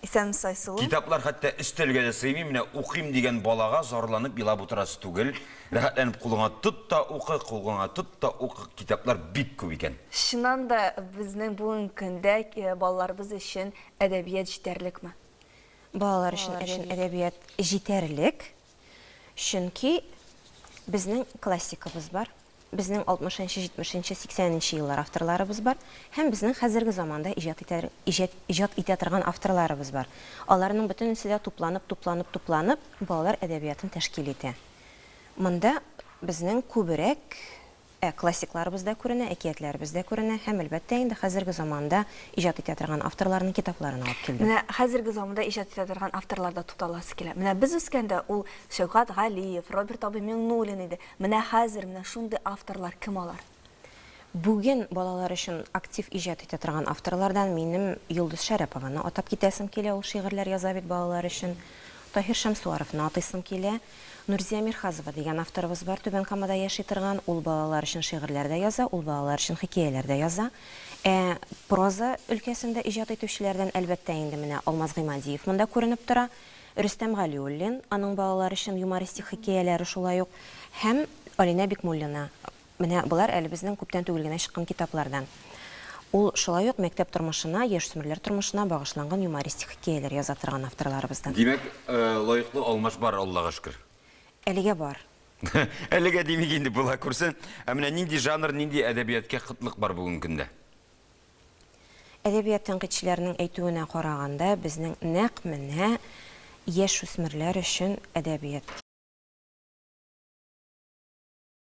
Исәнмесайсылу. Китаплар хәтта өстәлгә дә сыймый, менә укыйм дигән балага зарланып елап утырасы түгел. Рәхәтләнеп кулыңа тот та укы, кулгыңа тот та укы, китаплар бик күп икән. Чыннан да безнең бүгенге көндә балаларыбыз өчен әдәбият җитәрлекме? Балалар өчен әдәбият җитәрлек. Чөнки безнең классикыбыз бар, безнең 60 нчы, 70 нчы, 80 нче еллар авторларыбыз бар һәм безнең хәзерге заманда иҗат итә, иҗат, иҗат итә торган авторларыбыз бар. Аларның бөтенесе дә тупланып, тупланып, тупланып, балалар әдәбиятын тәшкил итә. Монда безнең күбрәк Ә классикларыбыз да күренә, әкиятләребез дә күренә һәм, әлбәттә инде, хәзерге заманда иҗат итә торган авторларның китапларын алып килдем. Менә хәзерге заманда иҗат итә торган авторларда тукталасы килә. Менә без үскәндә ул Шәүкәт Галиев, Роберт абый Миңнуллин иде. Менә хәзер менә шундый авторлар кем алар? Бүген балалар өчен актив иҗат итә торган авторлардан минем Йолдыз Шәрәпованы атап китәсем килә, ул шигырьләр яза бит балалар өчен. Таһир Шәмсуаровны атыйсым килә. Нурзия Мирхазова дигән авторыбыз бар, Түбән Камада яши торган. Ул балалар өчен шигырьләр дә яза, ул балалар өчен хикәяләр дә яза. Ә проза өлкәсендә иҗат итүчеләрдән, әлбәттә инде, менә Алмаз Гыймадиев монда күренеп тора, Рөстәм Галиуллин, аның балалар өчен юмористик хикәяләре шулай ук, һәм Алинә Бикмуллина. Менә болар әле безнең күптән түгел генә чыккан китаплардан. Ул шулай ук мәктәп тормышына, яшьсмерләр тормышына багышланган юмористик хикәяләр яза торган авторларыбыздан. Димәк, лаеклы алмаш бар, Аллага шөкер. Әлегә бар. Әлегә димик инде, була күрсен. Ә менә нинди жанр, нинди әдәбияткә кытлык бар бүгенге көндә? Әдәбият тәнкыйтьчеләренең әйтүенә караганда, безнең нәкъ менә яшүсмерләр өчен әдәбият.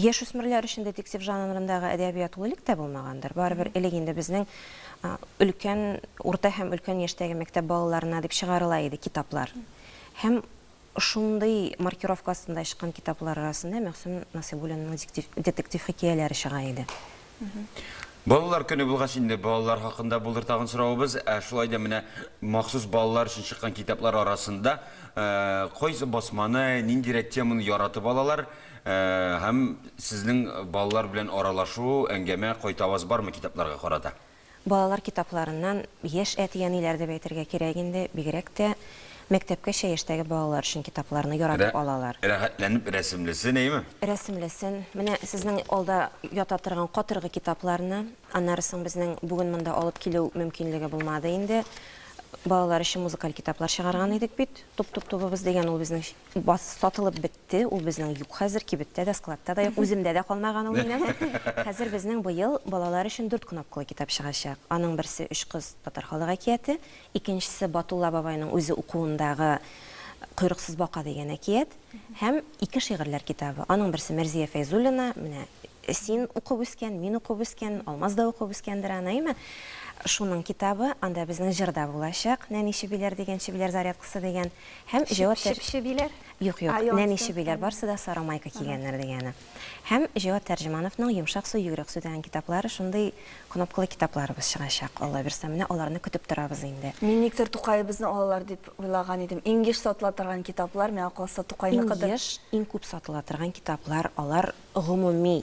Яшүсмерләр өчен детектив жанрындагы әдәбият ул элек тә булмагандыр. Барыбер элек инде безнең өлкән, урта һәм өлкән яшьтәге мәктәп балаларына дип чыгарыла иде китаплар. Һәм шундый маркировка астында чыккан китаплар арасында Мәгъсүм Насыйбуллинның детектив хикәяләре чыга иде. Балалар көне булгач инде балалар хакында булыр тагын соравыбыз. Ә шулай да менә махсус балалар өчен чыккан китаплар арасында кайсы басманы, ниндирәк теманы яратып алалар һәм сезнең балалар белән аралашу, әңгәмә, кайтаваз бармы китапларга карата? Балалар китапларыннан яшь әти-әниләр дип әйтергә кирәк инде, бигрәк тә мәктәпкәчә яшьтәге балалар өчен китапларны яратып алалар. Рәхәтләнеп рәсемлесен, әйеме? Рәсемлесен. Менә сезнең алда ята торган катыргы китапларны, аннары соң безнең бүген монда алып килү мөмкинлеге булмады инде. Балалар өчен музыкаль китаплар чыгарган идек бит, Туп-туп-тубыбыз дигән, ул безнең сатылып бетте. китте, ул безнең юк хәзер, кибеттә дә, складта да юк, үземдә дә калмаган ул минем. Хәзер безнең быел балалар өчен дүрт кнопкалы китап чыгачак. Аның берсе Өч кыз татар халык әкияте, икенчесе Батулла бабайның үзе укуындагы Койрыксыз бака дигән әкият һәм ике шигырьләр китабы. Аның берсе Мәрзия Фәйзуллина, менә син укып үскән, мин укып үскән, Алмаз да укып үскәндер аны, әйме? Шуның китабы, анда безнең җыр да булачак, Нәни чебиләр дигән, чебиләр зарядкасы дигән һәм җавап Чеп-чебиләр? Юк, юк, нәни чебиләр, барсы да сары майка кигәннәр дигәне. Һәм Җәвад Тәрҗемановның Йомшак су, йөгрек су дигән китаплары, шундый кнопкалы китапларыбыз чыгачак, Алла бирса. Менә аларны көтеп торабыз инде. Мин никтер Тукаебызны алалар дип уйлаган идем. Иң еш сатыла торган китаплар, миңа калса, Тукайныкыдыр. Иң еш, иң күп сатыла торган китаплар, алар гомуми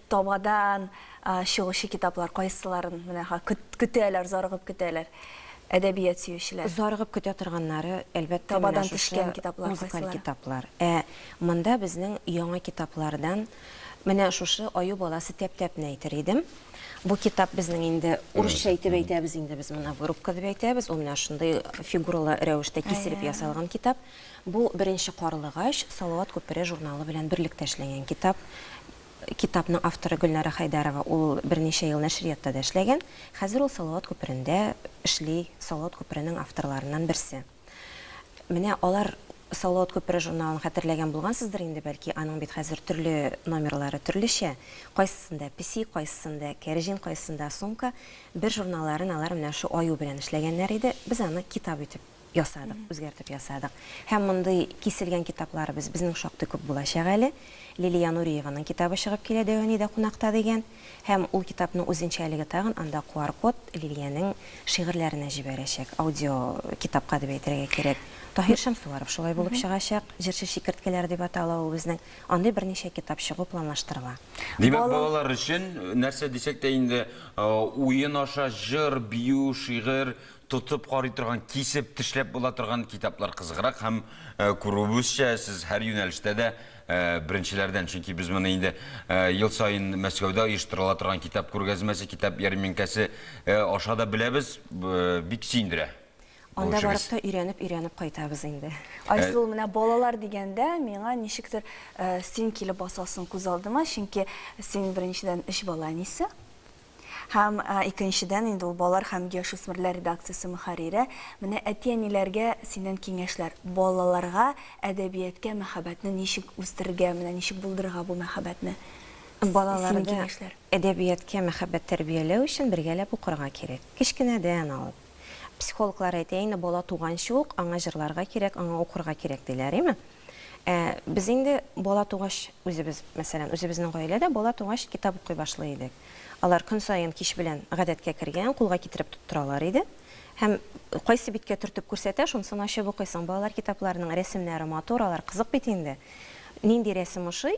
Табадан чыгучы китаплар кайсыларын менә көтәләр, зарыгып көтәләр әдәбият сөючеләр? Зарыгып көтә торганнары, әлбәттә, табадан төшкән китаплар кайсылары? Музыкаль китаплар. Ә монда безнең яңа китаплардан менә шушы Аю баласы тәп-тәпне әйтер идем. Бу китап безнең инде урысча итеп әйтәбез инде без моны вырубка дип әйтәбез. Ул менә шундый фигуралы рәвештә киселеп ясалган китап. Бу Беренче карлыгач, Салават күпере журналы белән берлектә эшләнгән китап. Китапның авторы Гөлнара Хәйдәрова, ул берничә ел нәшриятта да эшләгән. Хәзер ул Салават күперендә эшли, Салават күперенең авторларыннан берсе. Менә алар Салават күпере журналын хәтерләгән булгансыздыр инде, бәлки, аның бит хәзер төрле номерлары төрлечә, кайсысында песи, кайсысында кәрҗин, кайсысында сумка. Бер журналларын алар менә шул аю белән эшләгәннәр иде, без аны китап итеп ясадык, үзгәртеп ясадык. Һәм мондый киселгән китапларыбыз безнең шактый күп булачак әле. Лилия Нуриеваның китабы чыгып килә Дәванида кунакта дигән. Һәм ул китапның үзенчәлеге тагын, анда QR-код Лилиянең шигырьләренә җибәрәчәк, аудиокитапка дип әйтергә кирәк. Таһир Шәмсуаров шулай булып чыгачак, Җырчы чикерткәләре дип атала ул безнең. Андый берничә китап чыгу планлаштырыла. Димәк, балалар өчен, нәрсә дисәк тә инде, уен аша җыр, бию, шигырь, Тотып карый торган, кисеп, тешләп була торган китаплар кызыграк һәм күрүебезчә, сез һәр юнәлештә дә беренчеләрдән, чөнки без моны инде ел саен Мәскәүдә оештырыла торган китап күргәзмәсе, китап ярминкәсе аша да беләбез, бик сөендерә. Анда барып та өйрәнеп-өйрәнеп кайтабыз инде. Айсылу, менә балалар дигәндә, миңа ничектер син килеп басасың күз алдыма, чөнки син беренчедән өч бала әнисе, Һәм, икенчедән, инде ул балалар һәм яшүсмерләр редакциясе мөхәррире, менә әти-әниләргә синнән киңәшләр, балаларга әдәбияткә мәхәббәтне ничек үстерергә, менә ничек булдырырга бу мәхәббәтне? Балаларда әдәбияткә мәхәббәт тәрбияләү өчен бергәләп укырга кирәк. Кечкенәдән алып. Психологлар әйтә инде, бала туганчы ук аңа җырларга кирәк, аңа укырга кирәк, диләр, име? Ә без инде бала тугач, үзебез, мәсәлән, үзебезнең гаилә дә бала тугач китап укый башлый идек. Алар көн саен кич белән гадәткә кергән, кулга китереп тоттыралар иде. Һәм кайсы биткә төртеп күрсәтә, шунысын ачып укыйсың. Балалар китапларының рәсемнәре матур, алар кызык бит инде. Нинди рәсем ошый,